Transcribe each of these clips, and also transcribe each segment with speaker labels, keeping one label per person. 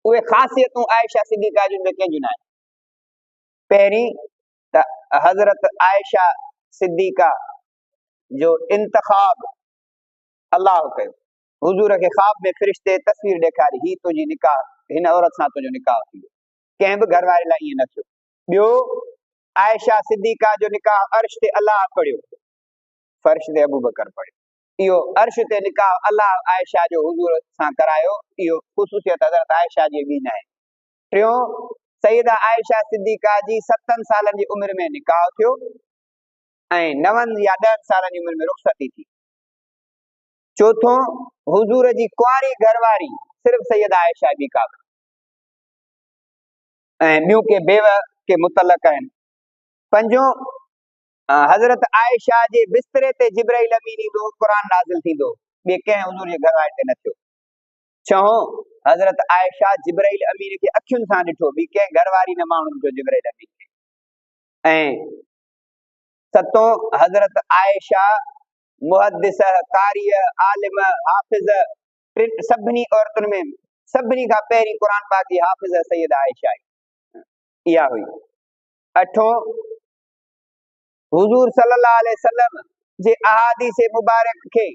Speaker 1: اهي خاصيتون عائشه صديقه جون ٻيو ڪنهن جون ناهن پهرين ته حضرت عائشه صديقه جو انتخاب الله ڪيو حضور کي خواب ۾ فرشتي تصوير ڏيکاري هي تنهنجي نڪاح هن عورت سان تنهنجو نڪاح ٿي ويو ڪنهن به گهر واري لاء ائين نه ٿيو ٻيو عائشه صديقه جو نڪاح عرش تي الله پڙهيو فرش تي ابو بڪر پڙهيو اهو عرش تي نڪاح الله عائشه جو حضور سان ڪرايو، اهو خصوصيت حضرت عائشه جي ڏينهن آهي. ٽيون، سيده عائشه صديقه جي ستن سالن جي عمر ۾ نڪاح ٿيو ۽ نون يا ڏهن سالن جي عمر ۾ رخصتي ٿي. چوٿون، حضور جي ڪنواري گهر واري صرف سيده عائشه جي ڪا ۽ ٻيون ڪي بيوه ڪي متعلق آهن. پنجون، حضرت عائشه جي بستري تي جبرائيل امين ايندو قرآن نازل ٿيندو ٻي ڪنهن حضور جي گهر واري تي نه ٿيو ڇهون حضرت عائشه جبرائيل امين کي اکين سان ڏٺو ٻي ڪنهن گهر واري نه ماڻهو ڏٺو جبرائيل امين کي ۽ ستون حضرت عائشه محدث قاري عالم حافظ سڀني عورتن ۾ سڀني کان پهرين قرآن پاڪ جي حافظ سيد عائشه آهي اها هئي اٺون حضور صلي الله عليه وسلم جي احاديث مبارڪ کي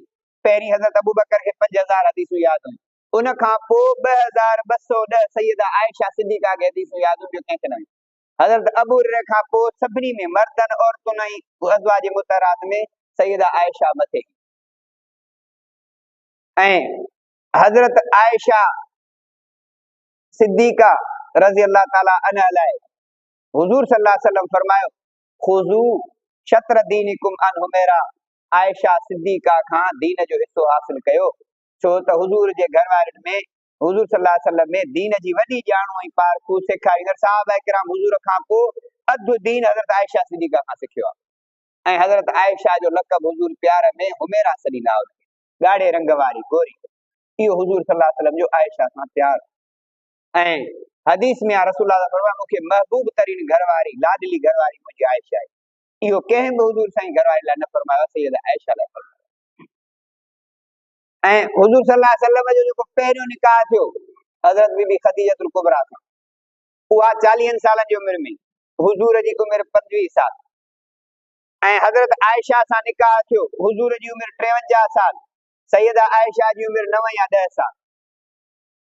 Speaker 1: پهرين حضرت ابوبڪر کي پنج هزار حديثون ياد هيون ان کان پوء ٻه هزار ٻه سؤ ڏهه سيده عائشه صديقه کي حديثون ياد هيون ٻيو ڪنهن کي نه هيون حضرت ابو هريره کان پوء سڀني ۾ مردن عورتن ۽ ازواج مطهرات ۾ سيده عائشه مٿي ۽ حضرت عائشه صديقه رضي الله تعالي عنها لاء حضور صلي الله عليه وسلم فرمايو خذو شطر دينكم ان حميرا عائشه صديقه کان دين جو حصو حاصل ڪيو ڇو ته حضور جي گهر وارن ۾ حضور صلي الله عليه وسلم ۾ دين جي وڏي ڄاڻو ۽ پارکو سيکاريندڙ صحابه ڪرام حضور کان پوء اڌ دين حضرت عائشه صديقه کان سکيو آهي ۽ حضرت عائشه جو لقب حضور پيار ۾ حميرا سڏيندا هئا ڳاڙهي رنگ واري گوري اهو حضور صلي الله عليه وسلم جو عائشه سان پيار ۽ حديث ۾ آ رسول الله صلي الله عليه وسلم فرمايو مون کي محبوب ترين گهر واري، لاڏلي گهر واري منهنجي عائشه آهي. اهو ڪنهن به حضور سائين گهر واري لاء نه فرمايو آهي، سيده عائشه لاء فرمايو آهي. ۽ حضور صلي الله عليه وسلم جو جيڪو پهريون نڪاح ٿيو حضرت بي بي خديجه الڪبريٰ سان اها چاليهن سالن جي عمر ۾ حضور جي عمر پنجويهه سال ۽ حضرت عائشه سان نڪاح ٿيو حضور جي عمر ٽيونجاهه سال سيده عائشه جي عمر نو يا ڏهه سال